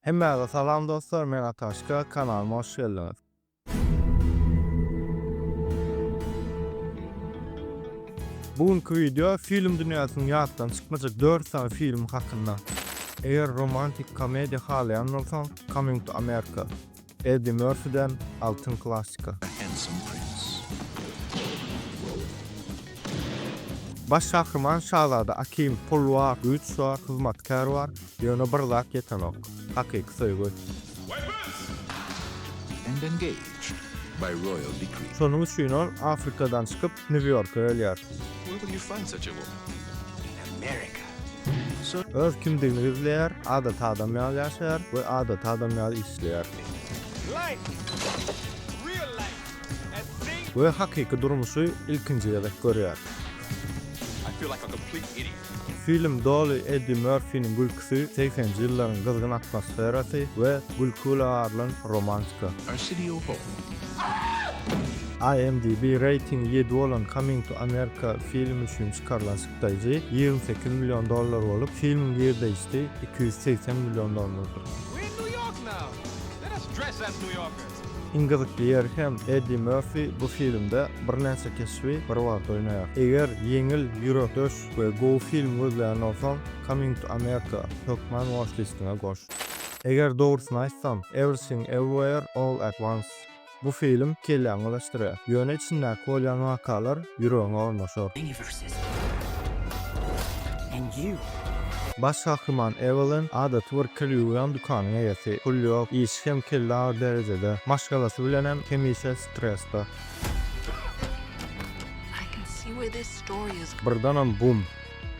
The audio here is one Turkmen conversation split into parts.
Hemmäňize salam dostlar men Ataşka kanalyma hoş geldiňiz. Bu günki video film dünýäsiniň ýatdan çykmajak dört sany filmi hakynda. Eger romantik komediýa halaýan bolsaň Coming to America. Eddi Mörfiden altyn klassyka. Baş gahryman şazada Akim pul bar, güýç bar, hyzmatkär bar, ýöne bir zat ýetenok, hakyky söýgi. Şonuň üçin ol Afrikadan çykyp, New Yorka gelýär. Öz kimdigini gizleýär, adaty adam ýaly ýaşaýar we adaty adam ýaly işleýär. We hakyky durmuşy ilkinji gezek görýär. Film doly Eddi Mörfiniň gülküsi, segsenji ýyllaryň gyzgyn atmosferasy we gülki bilen arylan romantika. A City of Hope. IMDb reýtingi ýedi bolan Coming to America filmi üçin çykarylan çykdaýjy ýigrimi sekiz million dollar bolup, filmiň girdeýjisi iki ýüz segsen million dollardyr. Iň gyzykly ýeri hem Eddi Merfi bu filmde birnäçe keşbi bir wagt oýnaýar. Eger ýeňil, ýürekdeş we gowy film gözleýän bolsaň, Coming to America hökman watch-listiňe goş. Eger dogrusyny aýtsam, Everything Everywhere All at Once bu film kelläňi birleşdirýär. Ýöne içindäki bolýan wakalar ýüregiňe ornaşar. Baş gahryman Ewelin adaty bir kirýuwýan dükanyň eýesi. Pul ýok, işi hem kelle agyr derejede. Maşgalasy bilenem hemişe stresde. Birdenem bum!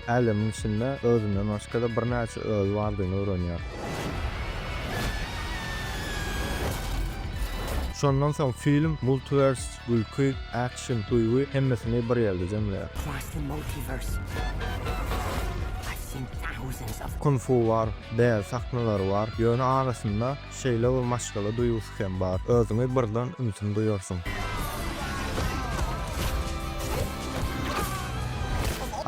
Älemiň içinde özünden başga-da birnäçe özi bardygyny öwrenýär. Şondan soň film, multiwers, gülki, Çyn söýgi hemmesini bir ýerde jemleýär. Kung fu bar, bäz sahnalary bar, ýöne arasynda şeýle bir maşgala duýgusy hem bar, özüňi birden ümsüm duýarsyň.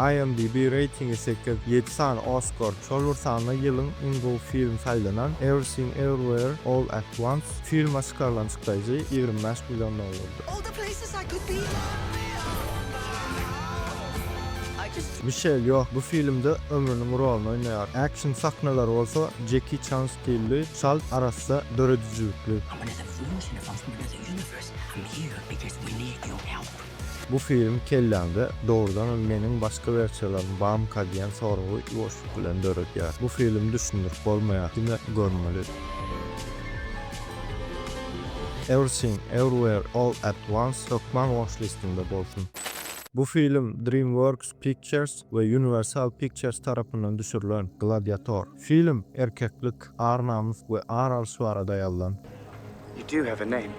IMDb reýtingi sekiz, ýedi sany Oskar, şol bir sanda ýylyň iň gowy filmi saýlanan Everything Everywhere All at Once filme çykarylan çykdaýjy ýigrimi bäş million dollardy. All the places I could be. Mişel Ýo bu filmde ömrüniň roluny oýnaýar. Action sahnalary bolsa Jeki Çan stilli, çalt arassa döredijilikli. Bu film kelläňde dogrudanam meniň başga wersiýalarym bamyka diýen soragy ýuwaşlyk bilen döredýär. Bu film düşündirip bolmaýar, diňe görmeli. Everything Everywhere All at Once hökman watch listimde bolsun. Bu film DreamWorks Pictures we Universal Pictures tarapyndan düşürilen Gladiator. Film erkeklik, ar-namys we ar alyş barada ýazylan. You do have a name.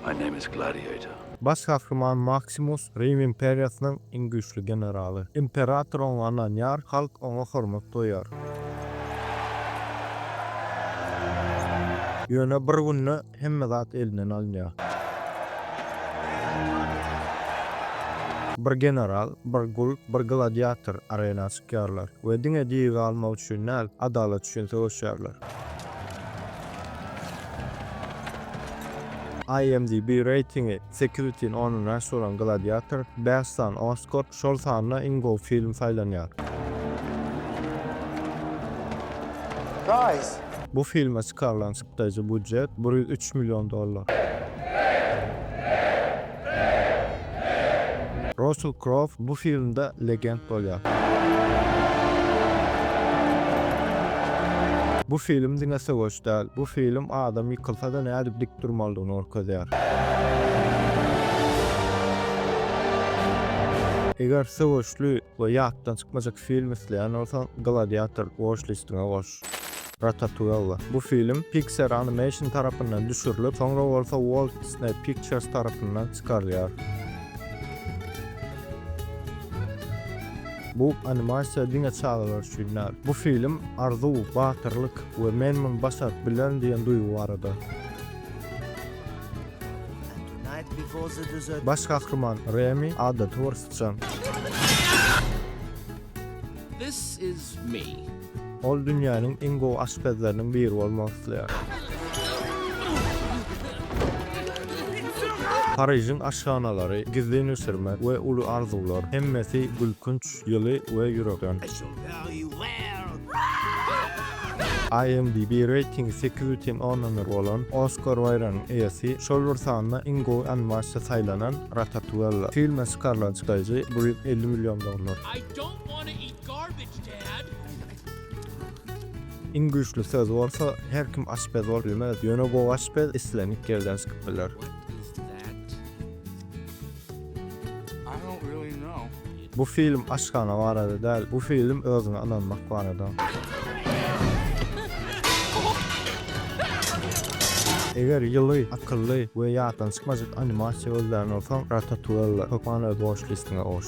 My name is Gladiator. Baş gahryman Maksimus, Rim imperiýasynyň iň güýçli generaly. Imperator oňa ynanýar, halk oňa hormat goýýar. Ýöne bir günde hemme zat elinden alynýar. Bir general, bir gul, bir gladiator arena çykyp. çykýarlar we diňe diri galmak üçin däl, adalat üçin söweşýärler. IMDb reýtingi sekiz bütin ondan bäş bolan Gladiator bäş sany Oskar, şol sanda iň gowy film saýlanýar. Bu filme çykarylan Çykdajy budjet bir ýüz üç million dollar. Rassel Krow bu filmde legend bolýar. Bu film diňe söweş däl, bu film adam ýykylsa-da nädip dik durmalydygyny görkezýär. Eger söweşli we ýatdan çykmajak film isleýän bolsaň, Gladiator watch-listiňe goş. Ratatouille. Bu film Pixar Animation tarapyndan düşürilip, soňra bolsa Walt Disney Pictures tarapyndan çykarylýar. Bu animasiýa diňe çagalar üçin däl. Bu film arzuw, batyrlyk we men muny başaryp bilerin diýen duýgy barada. Baş gahryman Remi adaty bir syçan. This is me. Ol dünýäniň iň gowy aşpezleriniň biri bolmak isleýär. Parižiň aşhanalary, gizlin bişirmek we uly arzuwlar, hemmesi gülkünç, ýyly we ýürekden. IMDb reýtingi sekiz bütin ondan bir bolan Oskar baýragynyň eýesi, şol bir sanda iň gowy animasiýa saýlanan Ratatouelle filme çykarylan çykaýjy bujet elli million dollar. Iň güýçli söz bolsa her kim aşpez bolup bilmez, ýöne gowy aşpez islendik ýerden çykyp biler. Bu film aşhana barada däl, bu film özüňe ynanmak barada. Eger ýyly, akylly we ýatdan çykmajak animasiýa gözlän bolsaň, Ratatouelle hökman öz watchlist-iňe goş.